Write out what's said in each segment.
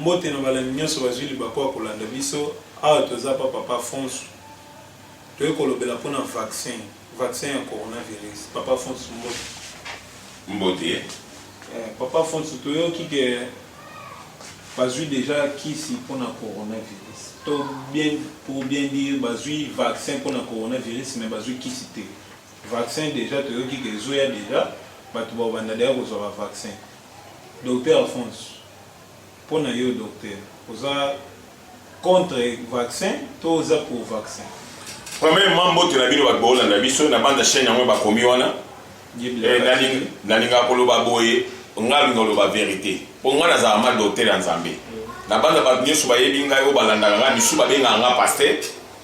mbote na balandi nyonso bazwi libaku ya kolanda biso awa toza pa papa fonso toyei kolobela mpona vaccin vaccin ya coronavirus papa fonso mbote mbote eh, papa fonso toyoki ke bazwi deja kisi mpona coronavirus to bien pour bien dire bazwi vaccin mpona coronavirus mais bazwi kisi te Vaccin dejà toyoki que ezoya dejà batu bakobanda dejà kozua ba vaccin docteur Alphonse pona yo docteur oza contre vaccin to oza pour vaccin? Premièrement mbote na bino bato boolanda biso na banda chaine yango bakomi wana nalingaka koloba boye ngai alinga koloba verite mpo ngai nazala ma docteur ya nzambe na banda bato nyonso bayebi ngai oyo balandaka ngai misusu babengaka ngai pasteur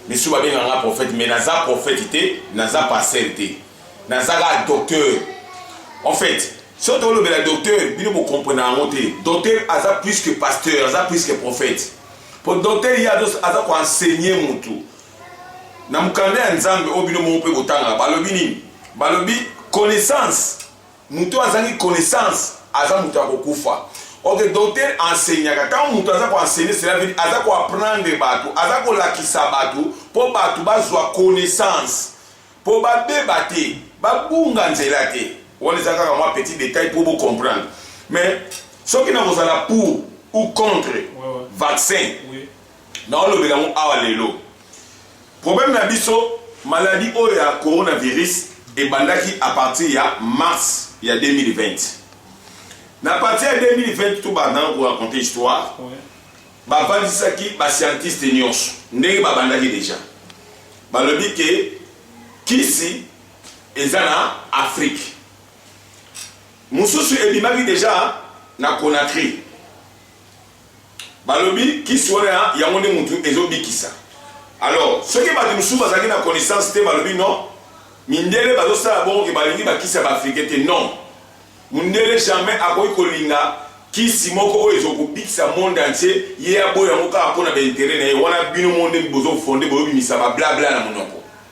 Misusu babenga nga prophète mais naza prophète te, naza pasteur te. Naza ka docteur. En fait, soki tokolobela docteur, bino bo comprendre yango te. Docteur aza plus que pasteur, aza plus que prophète. Po docteur ye aza ko enseigner mutu. Na mokanda ya Nzambe oyo bino moko mpe botangaka, balobi nini? Balobi connaissance Moto oyo azangi connaissance aza moto ya kokufa. Ok, docteur enseignaka. Ntango moto aza ko enseigner, cela veut dire aza ko apprendre bato, aza kolakisa bato mpo bato bazwa connaissance, mpo babeba te, babunga nzela te. Wana eza kaka mwa petit detail mpo bo comprendre. Mais soki nakozala pour ou contre vaccin, naolobela yango awa lelo. Problème na biso maladie oyo ya coronavirus ebandaki à partir ya mars ya 2020. Na partir ya 2020 tout banda ko raconter histoire. Ouais. Bavandisaki ba scientiste nyonso ndenge babandaki deja. Balobi ke kisi eza na Afrique. Mususu ebimaki deja na Conakry. Balobi kisi wana ya yango nde mutu ezo bikisa. Alors soki batu mususu bazalaki na connaissance te balobi non mindele bazo sala bongo ke balingi ba kisi ya ba africain te non. Mundele jamais akoki kolinga kisi moko oyo ezo kobikisa monde entier ye aboya yango kaka pona ba interet na ye wana bino moko nde bozo fonde bozo bimisa ba bla bla na munoko.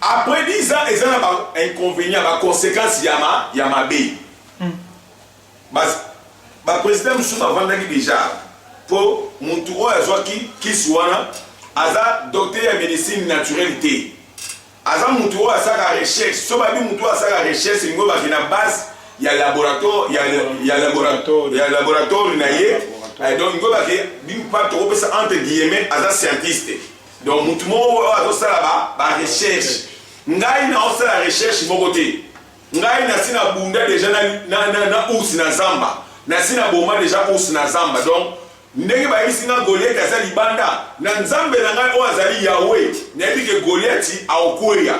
Après 10 ans eza na ba inconvenients ba consequences ya ma ya mabe. Mm. Ba ba president mususu bavandaki deja po mutu oyo azwaki kisi wana aza docteur ya medicine naturelle te. Aza mutu oyo asaka recherche. So babi mutu oyo asaka recherche lingo baki na base ya laboratoire ya, ya, laboratoire, ya laboratoire na ye. Donc lingo baki bimpa tokopesa entre guillemets aza scientiste. donc mutu moko oyo azosala ba, ba recherche ngai naosala recherche moko te ngai nasi na bunda deja na, na, na, na ours na zamba nasi na boma deja ours na zamba donc ndenge bayebisi nga goliati aza libanda na nzambe na ngai oyo azali yawe nayebi ke goliati aokweya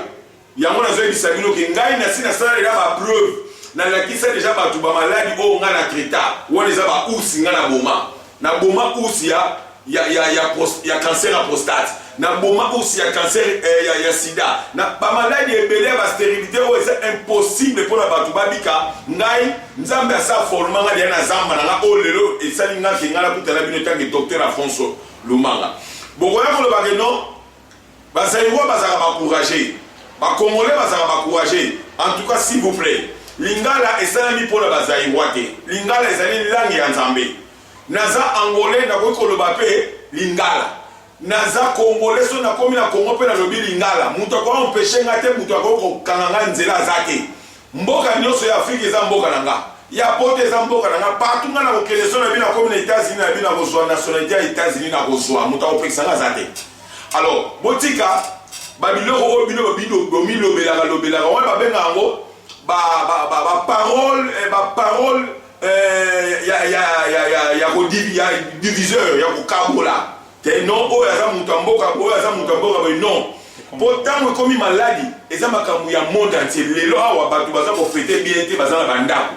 Yango nazo yebisa bino ke ngai nasi nasala deja ba preuve, na lakisa deja batu ba maladi oyo ngai na traita, wana eza ba ours ngai na boma, na boma ours ya ya ya ya pros, ya cancer ya prostate, na boma ours ya cancer eh, ya, ya sida, na ba maladi ebele ya ba sterilite oyo eza impossible pona batu babika, ngai Nzambe asa forma ngai deja na zamba na ngai oyo lelo esali ngai ke ngai nakutana bino etanke docteur Afonso Lumanga, bokoya koloba ke non Ba zaïrois bazalaka ba courageux, ba congolais bazalaka ba courageux, en tout cas s'il vous plait lingala esalami pona ba zaïrois te, lingala ezali langue ya Nzambe. Naza angolais nakoki koloba pe lingala, naza congolais soki nakomi na Congo pe nalobi lingala mutu akoki empecher nga te, mutu akoki kokanga nga nzela aza te. Mboka nioso ya afrique eza mboka na nga ya poto eza mboka na nga partout nga na kokende so na bi na komi na etats unis na bi na kozua nationalite ya etats unis na kozua moto akopekisa nga aza te alors botika babiloko oyo bino bomilobelaka lobelaka wana babenga yango baparole eh, baparole eh, ya kodiviseur ya kokabola Te non oyo aza moto ya mboka oyo aza moto ya mboka boye non mpo ntango ekomi maladi eza makambo ya monde entier lelo awa bato baza kofete bien te baza na bandako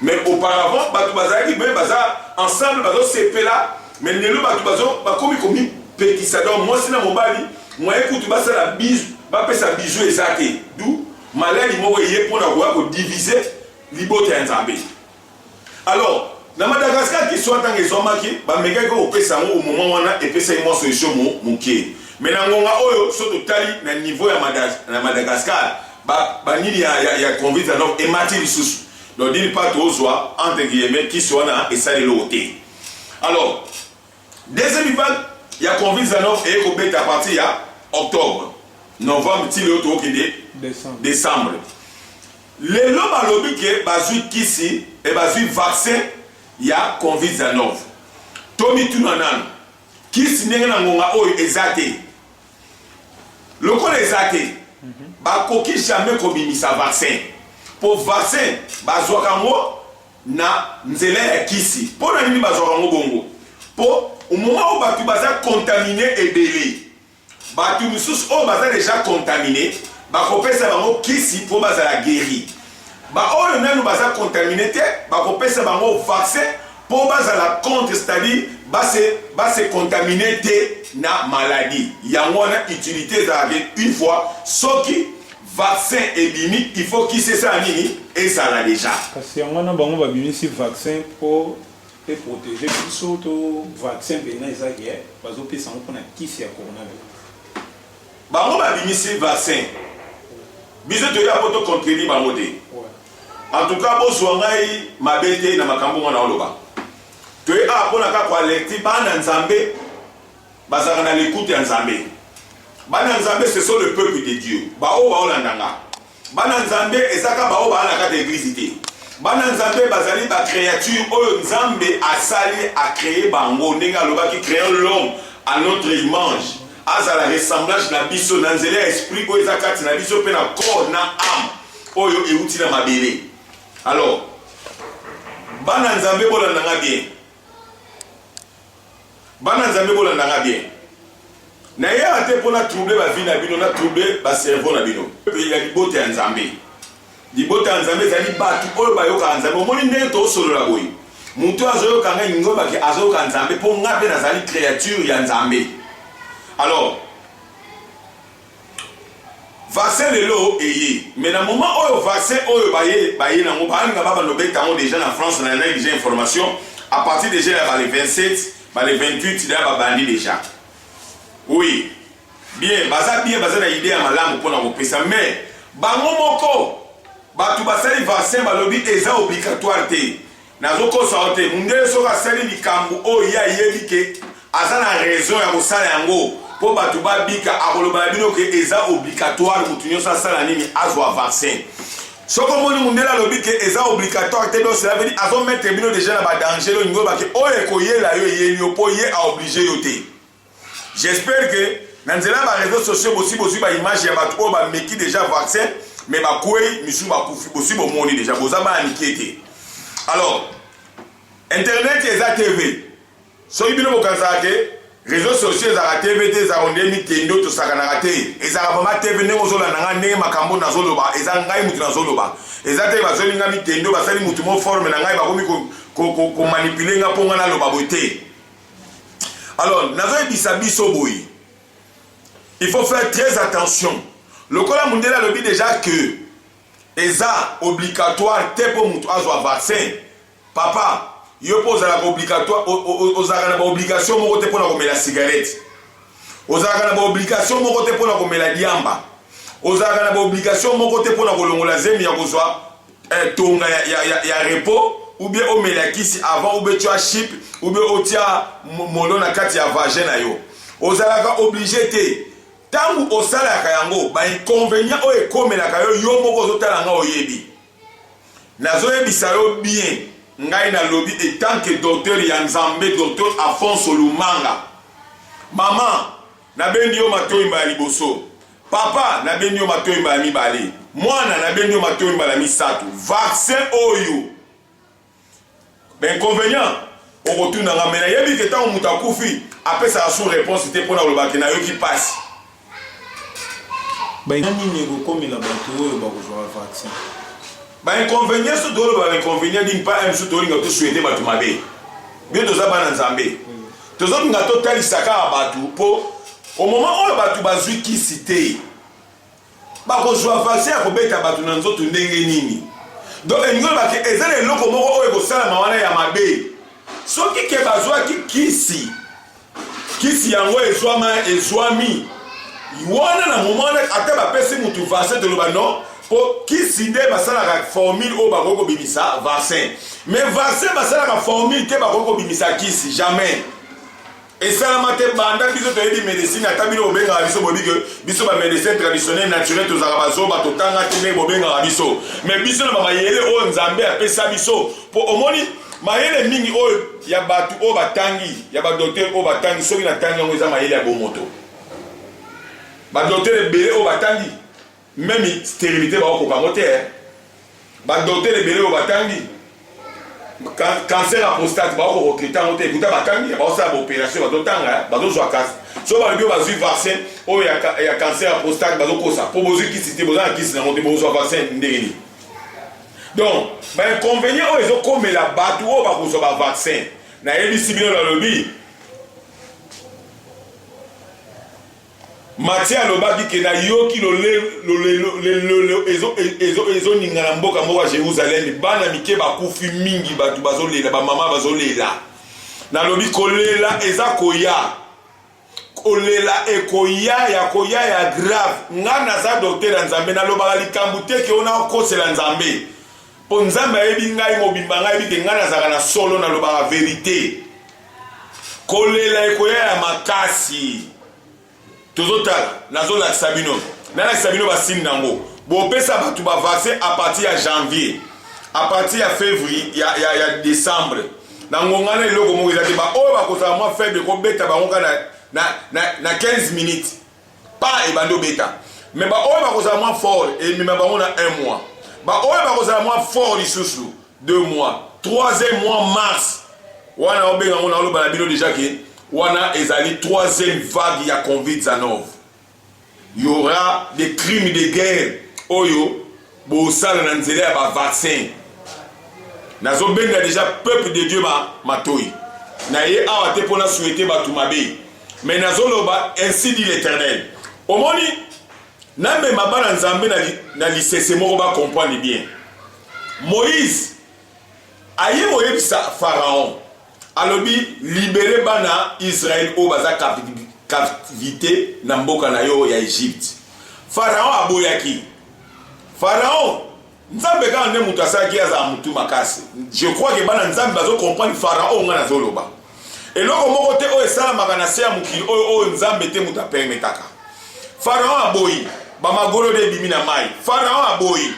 mais auparavant bato bazalaki me baza ensemble bazosepela mais lelo bato bakomi komipekisa donc mwasi na mobali mwaye kutu basala bizu bapesa bizu eza te du maladi moko eye mpo na koya kodivise libota ya nzambe Alors, na Madagascar kiswa ntango ezwamaki, bamekaki kopesa yango au moment wana, epesaki mwa solution mu, muke. Mais na ngonga oyo, soki totali na niveau ya Mada, na Madagascar, ba, ba nini ya, ya, ya convite ya Nord emati lisusu. Donc d'une part tozwa entre guillemets kisi wana esali eloko te. Alors, Deuxième vague ya Covid-19 eye kobeta à partir ya octobre, novembre ti lelo tokokende decembre. Lelo balobi ke bazwi kisi et bazwi vaccin ya Covid-19. Tomituna nanu, kisi ndenge na ngonga oyo eza te. Lokola eza te, bakoki jamais kobimisa vaccin. Po vaccin bazwaka yango na nzela ya kisi. Mpo na nini bazwaka yango bongo? Mpo au moment oyo bato baza contamine ebele, bato mosusu oyo baza deja contamine bakopesa bango kisi mpo bazala gueri. Baoyo nanu baza contamine te bakopesa bango vaccin mpo bazala contre, c'est-à-dire base base contamine te na maladie. Yango wana utilité ezalaka une fois soki Vaccin ebimi il faut kisi esala nini ezala dejà. Kasi yango wana bango babimisi vaccin po e proteger biso to vaccin penza eza ke bazo pesa yango pona kisi ya coronavirus? Bango babimisi vaccin biso toya po to contredire bango te. En tout cas bozua ngai mabe te na makambo ngo naoloba. Toye awa pona kaka ko alerter bana Nzambe Bazalaka na likuta ya Nzambe. Bana ya Nzambe ce sont le peuple de Dieu. Ba oyo baolanda nga. Bana ya Nzambe eza kaka ba oyo baala na kati ya eglise te. Bana ya Nzambe bazali ba creature oyo Nzambe asali a cree bango ndenge alobaki creons l'homme à notre image azala ressemblage na biso na nzela ya esprit oyo eza kati na biso mpe na corps na ame oyo euti na mabele alors bana nzambe bolanda nga bien Bana nzambe bolanda nga bien nayaka te mpo na trouble ba vie na bino na trouble ba cerveau na bino mpe ya libota ya nzambe libota ya nzambe ezali bato oyo bayokaka nzambe omoni ndenge tosolola boye moto oyo azoyoka ngai ngobaki azoyoka nzambe mpo ngai mpe nazali créature ya nzambe alors Vaccin lelo eye mais na moment oyo vaccin oyo baye baye nango baalinga ba bando beta yango deja na France na yanai deja information à partir deja ya bale 27 bale 28 deja babandi deja oui bien baza bien baza na idee ya malamu mpona kopesa mais bango moko bato basali vaccin balobi eza obligatoire te Nazo kosa yo te, mundele soki asali likambu oyo ye ayebi ke aza na raison ya kosala yango po batu ba bika akoloba na bino ke eza obligatoire mutu nioso asala nini azua vaccin. Soki omoni mundele alobi ke eza obligatoire te donc cela veut dire azo mettre bino dejà na ba danger lolingi oloba ke oyo ekoyela yo eyeli yo po ye a oblige yo te. J'espère que na nzela ya ba réseaux sociaux bosi bozwi ba image ya bato oyo bameki déjà vaccin me bakwei misusu bakufi bosi bomoni déjà boza bana mike te alors internet eza tv soki bino bokanisaka te réseaux sociaux ezalaka tv te ezalaka nde mikendo tosakanaka te ezalaka vraimen tv ndenge ozolanda ngai ndenge makambo nazoloba eza ngai motu nazoloba eza te bazoli ngai mikendo basali motu mo forme na ngai bakomi komanipule ngai mpo ngai naloba boye te alors nazoyebisa biso boye il faut faire très attention lokola mundele alobi déjà que eza obligatoire te mpo moto azwa vaccin papa yo mpo ozalaka obligatoire ozalaka na baobligation moko te mpo na komela cigarette ozalaka na baobligation moko te mpo na komela diamba ozalaka na baobligation moko te mpo na kolongola zemi ya kozwa eh, tonga ya, ya, ya, ya repos ou bien omela kisi avant ou bien tu as chip ou bien otia molo na kati ya vagin na yo ozalaka oblige te ntango osalaka yango bainconvénient oyo ekomelaka yo yo moko ozotala nga oyebi nazoyebisa yo bien ngai nalobi etant que docteur ya nzambe docteur afonso lumanga mama nabendi yo matoyi mbala liboso Papa nabendi yo matoyi mbala mibale mwana nabendi yo matoyi mbala misato vaccin oyo inconvenient okotuna nga me nayebi ke ntango moto akufi apesaka sous réponse te mpo na koloba ke nayoki mpasi nini ekokomela bato oyo bakozwaka vaccin bainconvenient so toloba bainconvenient dini mpa mosusu tolinga tosuete bato mabe bino toza bana nzambe Tozolinga totalisa kaka bato mpo au moment oyo bato bazwi kisi te bakozwa vaccin ya kobeta bato na nzoto ndenge nini? Donc elingi oloba ke eza na eloko moko oyo ekosalama wana ya mabe soki ke bazwaki kisi kisi yango ezwama ezwami wana na moment wana ata bapesi motu vaccin toloba non po kisi nde basalaka formule oyo bakoki kobimisa vaccin mais vaccin basalaka formule te bakoki kobimisa kisi jamais esalama te banda biso toyebi médecine ata bino bobengaka biso boyebi ke biso bamédecin traditionnel naturel tozalaka bazoba totanga te ndenge bobengaka biso mais biso na bamayele oyo nzambe apesa biso po omoni mayele mingi oyo ya bato oyo batangi ya badoktere oyo batangi soki natangi yango eza mayele ya bomoto badoktere ebele oyo batangi Meme sterilite bakokoka yango te. Badoktere ebele oyo batangi cancer ya prostate bakokokrite yango te kuta batangi baosala baoperation bazotanga bazozwa kasi so balobi oyo bazwi vaccin oyo ya cancer ya prostate bazokosa mpo bozwi kisi te boza na kisi nango te bozwa vaccin ndenge nini donc bainconvenient oyo ezokomela bato oyo bakozwa bavaccin nayebisi bino balobi Mathieu alobaki ke nayoki lolelo ezoninga na mboka moko ya Jerusalem, bana mike bakufi mingi, bato bazolela, bamama bazolela. Nalobi kolela eza koya, kolela ekoya ya koya ya grave. Nga naza docteur ya Nzambe, nalobaka likambo te ke ona okosela Nzambe, po Nzambe ayebi ngai mobimba, ngai ayebi ke ngai nazalaka na solo, nalobaka verite. kolela ekoya ya makasi tozotala nazolakisa bino nalakisa bino basini na yango bopesa bato bavaccin a partir ya janvier a partir ya février ya, ya, ya décembre na ngonga na eloko moko eza te baoyo bakozala mwa faible kobeta bango kaka na, na, na, na 15 minutes pa ebandi obeta me baoyo bakozala mwa fort emema bango na 1 mois baoyo bakozala mwa fort lisusu deux mois troisième mois mars wana obenga ngo naoloba na bino deja ke wana ezali troisième vague ya convite zanov y aura des crimes de guerre oyo bosala na nzela ya bavaccin nazobenda deja peuple de dieu ma matoi na ye awa te mpo na souhaite bato mabe me nazoloba ainsi dit l'éternel omoni namema bana nzambe na lisese moko bacomprendre bien Moïse aye koyebisa Pharaon alobi libere bana Israël oyo baza captivité na mboka na yo ya Egypte. Pharaon aboyaki. Pharaon Nzambe kaka nde moto asalaki azala motu makasi. Je crois que bana Nzambe bazo comprendre Pharaon nga nazoloba. Eloko moko te oyo esalamaka na se ya mokili oyo oyo Nzambe te moto apermetaka. Pharaon aboyi. Bamagolo de ebimi na mai. Pharaon aboyi.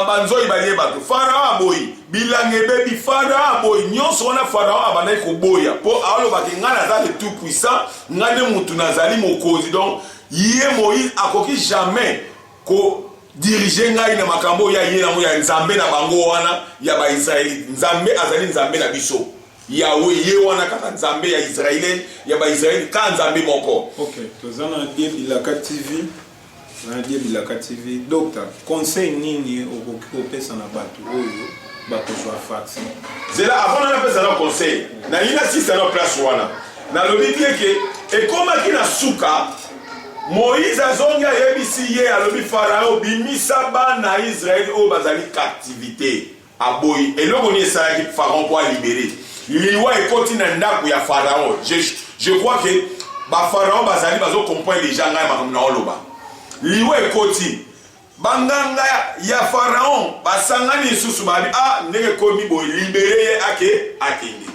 banzoi balie bato farao aboyi bilanga ebebi farao aboyi nyonso wana farao abandaki koboya mpo alobaki ngai naza le tout puissant ngai nde motu nazali mokonzi donc ye moïse akoki jamais ko dirige ngai na makambo oyo aye yango ya nzambe na bango wana ya baisraelite nzambe azali nzambe na biso yawe ye wana kaka nzambe ya israele ya baisraele kaka nzambe moko okay, toza na bilaka tv Hein die bilaka TV docta conseil nini okoki kopesa na batu oyo bakozwa vaccin? Zela avant na napesa na conseil na ye na sisa na place wana na lobi bien ke ekomaki na suka Moïse azongi ayebisi ye alobi Pharaon bimisa bana Israël oyo bazali captivite Aboyi eloko nini esalaki pharaon po a libere liwa ekoti na ndaku ya pharaon je, je crois que ba pharaon bazali bazo comprendre deja ngai makambo na oloba liwa ekoti banganga ya pharaon basangani lisusu babi ah ndenge ekomi boye libere ye ake akende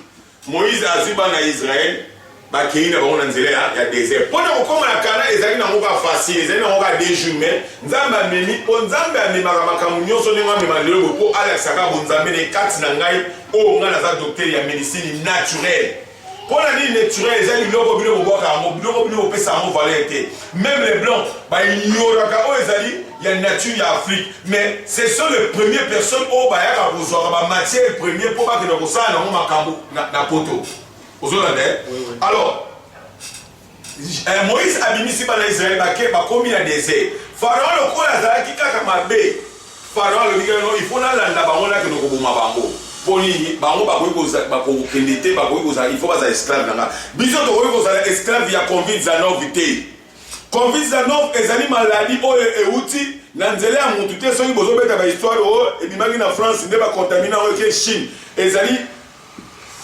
Moïse azwi bana ya Israël bakei na bango na nzela ya, ya desert mpo na kokoma na Kana. Ezali na ngoka facile, ezali na ngoka deux jours, mais Nzambe amemi mpo Nzambe amemaka makambo nyonso ndenge amema lelo bo mpo alakisaka bonzambe na kati na ngai. Oyo oh, ngai naza docteur ya medicine naturelle mpo na nini naturel eza biloko bino bobwaka yango biloko bino bopesa yango valeur te meme le blanc baignoraka oyo ezali ya nature ya afrique mais ce sont les premières personnes oyo bayaka kozwaka bamatière premier mpo bakenda kosala nango makambo na poto ozolanda ye alors eh, moïse abimisi bana israele bake bakomi na desert pharaon lokola azalaki kaka mabe pharaon alobi kaka il faut nalanda bango nakende koboma bango mpo nini bango bakokende te bakoki kozala il faut bazala esclave na nga biso tokoki kozala esclave ya convin zanovi te Covid-19 ezali maladi oyo euti na nzela ya mutu te soki bozobeta ba histoire oyo oh, ebimaki na France nde ba contamine yango eke Chine ezali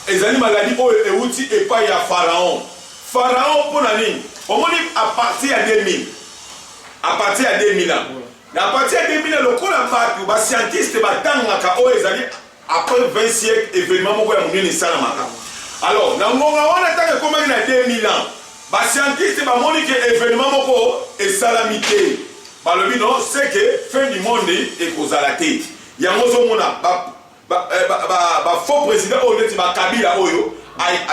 ezali maladi oyo euti epai ya Pharaon Pharaon mpo na nini omoni a partir ya 2000 a partir ya 2000 na partir ya 2000 lokola bato ba scientiste batangaka oyo ezali Après 20 siècles, événement moko ya monene esalamaka. Alors, na ngonga wana ntango ekomaki na 2000 ans, ba scientiste bamoni ke événement moko esalami te. Balobi non, c'est que fin du monde ekozala te. Yango ozomona ba, ba, eh, ba, ba, ba faux président oyo neti ba Kabila oyo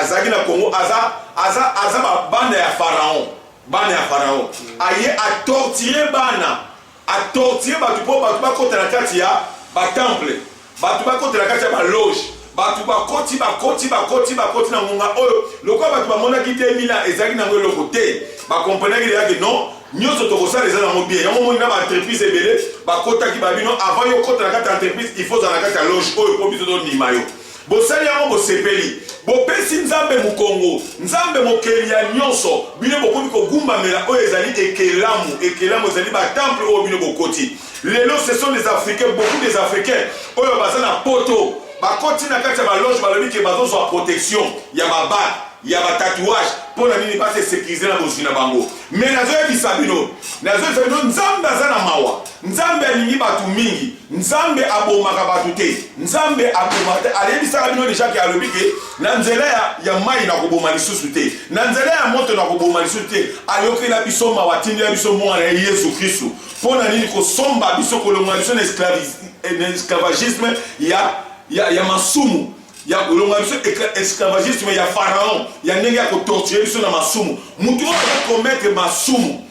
azalaki na Congo aza aza aza ba banda ya pharaon, bana ya pharaon. Aye a torturer bana A torturer batu po batu bakota na kati ya ba temples, batu bakota na kati ya ba loges, batu bakoti, bakoti, bakoti, bakoti na ngonga oyo lokola batu bamonaki te Milan ezalaki na yango eloko te, ba comprenaki dejà que non nionso tokosala eza na yango bien. Yango omoni na ba entreprises ebele bakotaki, balobi non avant yo okota na kati ya entreprise il faut ozala na kati ya loge oyo po biso tondima yo. Bosali yango bosepeli. Bopesi Nzambe mokongo, Nzambe mokeli ya nyonso. Bino bokomi kogumbamela oyo ezali ekelamu. Ekelamu ezali ba temple oyo bino bokoti. Lelo ce sont des africains, beaucoup des africains oyo baza na poto bakoti na kati ya ba loge balobi ke bazozwa protection ya ba bague ya ba tatouage mpo na nini base sécuriser na bozwi na bango mais nazoyebisa bino nazoyebisa bino nzambe aza na mawa nzambe alingi bato mingi Nzambe abomaka bato te, Nzambe abomaka te. Ayebisaka bino deja ke alobi ke na nzela ya, ya mai nakoboma lisusu te, na nzela ya moto nakoboma lisusu te. Ayokela biso mawa, atindela biso mwana ya Yesu Kristu. Mpo na nini kosomba biso, kolongola biso na eh, esclavagisme ya, ya, ya masumu ya kolongola biso esclavagisme ya faraon ya ndenge ya kotorture biso na masumu. Moto oyo akometre masumu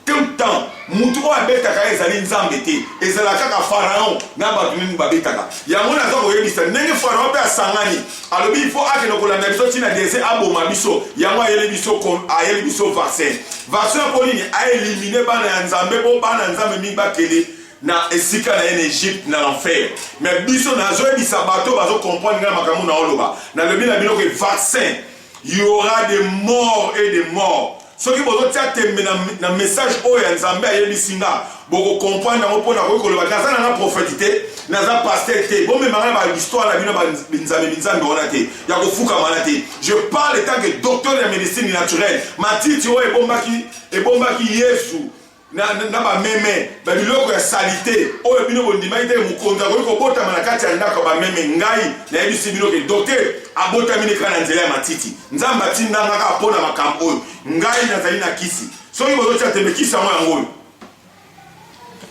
Tout temps mutu oyo abetaka ye ezali nzambe te ezala kaka pharaon na batu nini babetaka yango naza koyebisa ndenge pharaon pe asangani alobi po akende kolanda biso ti na dese aboma biso yango ayeli biso ayeli biso vaccin vaccin ya po nini aelimine bana ya nzambe po bana nzambe mingi bakende na esika na ye na egypte na enfer me biso nazoyebisa bato bazokomprendre ngai makambo na oloba nalobi na bino ke vaccin Il y aura des morts et des morts. soki bozotia tembe na, na message oyo ya nzambe ayebisi nga bokokomprendre yango mpo nakoki koloba naza nanga profete te naza paster te bomemanga na bahistoire na bino binzambe binzambe wana te ya kofukamana te je parle etant que docteur ya médecine naturelle matiti oyo ebombaki ebombaki yesu na, na, na bameme na biloko ya salite oyo bino bondimaki te mokonzi akoki kobotama na kati ya ndako ya bameme ngai nayebisi bino ke doke abotami ne kaka na nzela ya matiti nzambe atindanga kaka mpo na makambo oyo ngai nazali na kisi soki bozotya tembe kisi yango yango oyo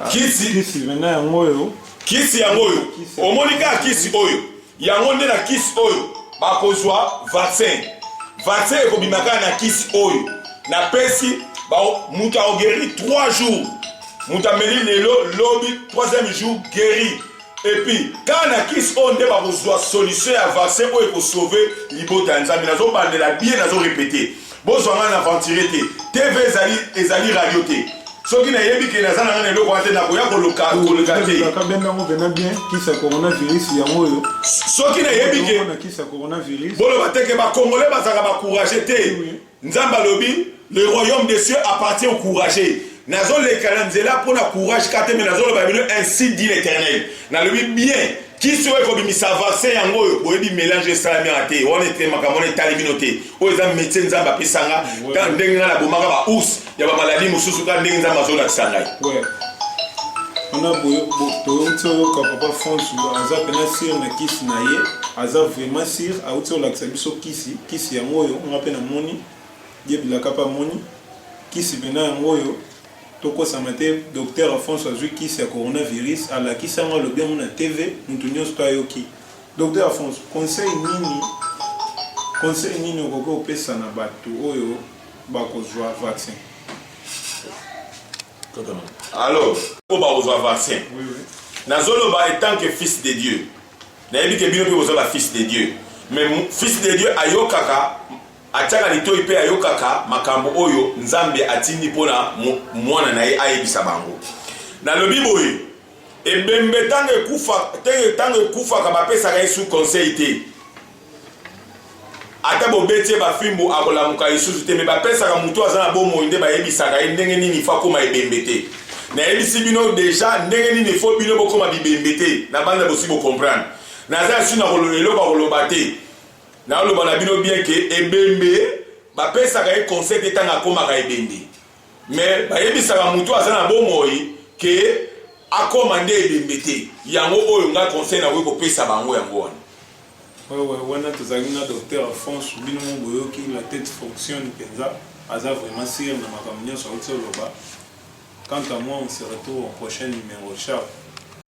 ah, kisi yango oyo kisi yango oyo omoni kaka kisi oyo Yango nde na kisi oyo bakozwa vaccin. Vaccin ekobima kaka na kisi oyo napesi moto aogeri 3 jours moto ameli lelo lobi 3e jour gueri epuis kaka na kisi oyo nde bakozwa solution ya vaccin oyo ekosauve libota ya nzambe nazobandela bie nazorepete Bozwa ngai na aventurier te. TV ezali ezali radio te. Soki nayebi ke naza na ngai na eloko wana te nakoya koluka koluka te. Kabenda yango pena bien kisa coronavirus yango oyo. Soki nayebi ke na kisa coronavirus. Boloba te ke ba congolais bazalaka ba courageux te. Nzambe alobi le royaume des cieux appartient aux courageux. nazo leka na nzela mpo na courage kate me nazo loba bino ainsi dit l'éternel nalobi bien kisi oyo ekobimisa vaccin yango oyo boyebi mélange esalami wana te wana ete makambo wana etali bino te oyo eza métier nzambe apesa nga ntango ndenge nga nabomaka ba ours ya bamaladi mosusu kaka ndenge nzambe azolakisa ngai wana toyokisi oyoka papa france aza pena sire na kisi na ye aza vraiment sire auti olakisa biso kisi kisi yango oyo nga mpe namoni Gaby lakape amoni kisi pena yango oyo tokosama te docteur Afonso azui kisi ya corona virus alakisi yango alobi yango na TV mutu nionso to ayoki docteur Afonso conseil nini conseil nini okoki opesa na batu oyo bakozua vaccin alors po bakozua vaccin oui, oui. nazoloba etant que fils de Dieu nayebi ke bino mpe boza ba fils de Dieu mais fils de Dieu ayokaka Atyaka litoi mpe ayokaka makambo oyo Nzambe atindi mpo na Mwana na ye ayebisa bango. Nalobi boye, ebembe ntango ekufa, ntango ekufaka bapesaka ye su conseil te. Ata bobeti ye bafimbo akolamuka lisusu te, me bapesaka moto aza na bomoi nde bayebisaka ye ndenge nini ifo akoma ebembe te. nayebisi bino deja ndenge nini ifo bino bokoma bibembe te na banda bosi bocomprendre naza yasi na eloko ya koloba te Naloba na bino bien que ebembe ba pesaka ye conseil te tango akomaka ebembe mais bayebisaka mutu oyo aza na bomoi que akoma nde ebembe te yango oyo ngai conseil nakoki kopesa bango yango wana. Ouais ouais wana tozalaki na docteur Alphonse bino mo boyoki la tete fonctionne penza aza vraiment sur na makambo nionso awuti oloba quant à moi on se retrouve au prochain numero ciao.